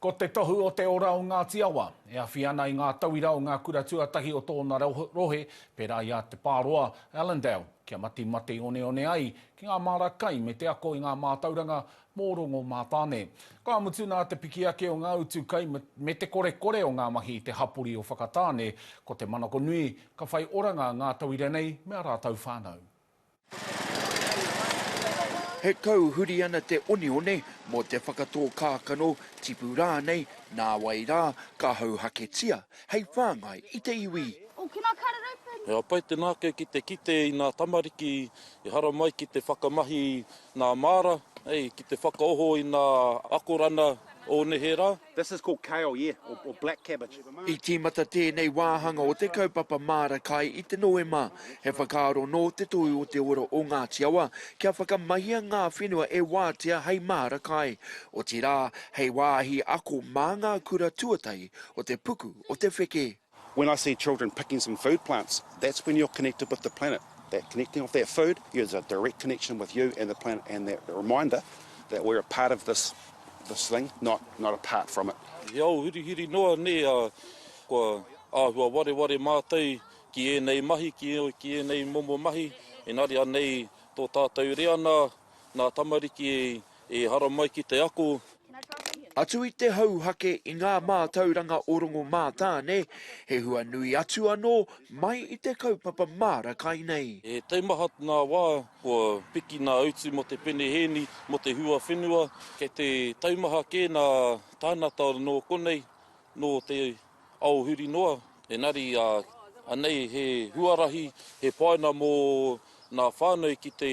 Ko te tohu o te ora o Ngāti Awa, e awhi ana i ngā tauira o ngā kura tuatahi o tōna rohe, pērā i a Te Pāroa, Allendale, kia matimati oneone ai ki ngā māra kai me te ako i ngā mātauranga mō Rongomātāne. Ka mutu nā te piki ake o ngā utu kai me te korekore o ngā mahi i te hapori o Whakatāne, ko te manako nui, ka whai oranga ngā tauira nei me ā rātou whānau. He kau huri ana te oneone mō te whakatō kākano, tipu rānei, nāwai rā, ka hauhaketia hei whāngai i te iwi. He pai te nākau ki te kite i ngā tamariki i haramai ki te whakamahi i ngā māra, ki te whakaoho i ngā akoranga o neherā. This is called kale, yeah, or, or black cabbage. I tīmata tēnei wāhanga o te kaupapa Māra Kai i te Noema. He whakaaro nō Te Tohu o Te Ora o Ngāti Awa kia whakamahia ngā whenua e wātea hei māra kai, otirā, hei wāhi ako mā ngā kura tuatahi o te puku o te wheke. When I see children picking some food plants, that's when you're connected with the planet. That connecting of that food is a direct connection with you and the planet and that reminder that we're a part of this this thing, not not apart from it. He ao hurihuri noa nē, ā, kua āhua wareware mātou ki ēnei mahi, ki, ki ēnei momo mahi, engari anei tō tātou reana nā tamariki e I haramai ki te ako. Atu i te hauhake i ngā mātauranga o Rongomātāne, he hua nui atu anō mai i te kaupapa māra kai nei. He taimaha ngā wā kua piki ngā utu mō te penehēni, mō te huawhenua, kei te taimaha kē ngā tāngata nō konei, nō te ao huri noa. Engari, anei he huarahi, he whāinga mō ngā whānau ki te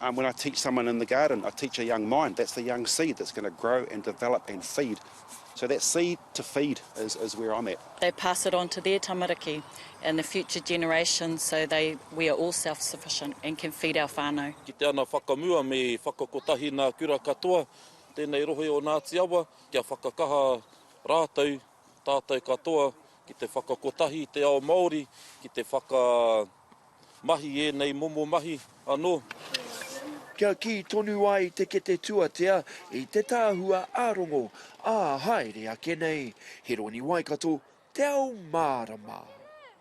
Um when I teach someone in the garden I teach a young mind, that's the young seed that's going to grow and develop and feed. So that seed to feed is is where I'm at. They pass it on to their tamariki and the future generations so they we are all self sufficient and can feed our whanau. Kite ana whakamua me whakakotahi nā kura katoa tēnei rohe o Ngāti Awa kia whakakaha rātou Tātou katoa ki te whakakotahi i te ao Māori, ki te whakamahi i ēnei momo mahi anō. Kia kī tonu ai te kete tuatea i te tāhua ā-rongo, ā-haere ake nei. He roni Waikato, te ao mārama.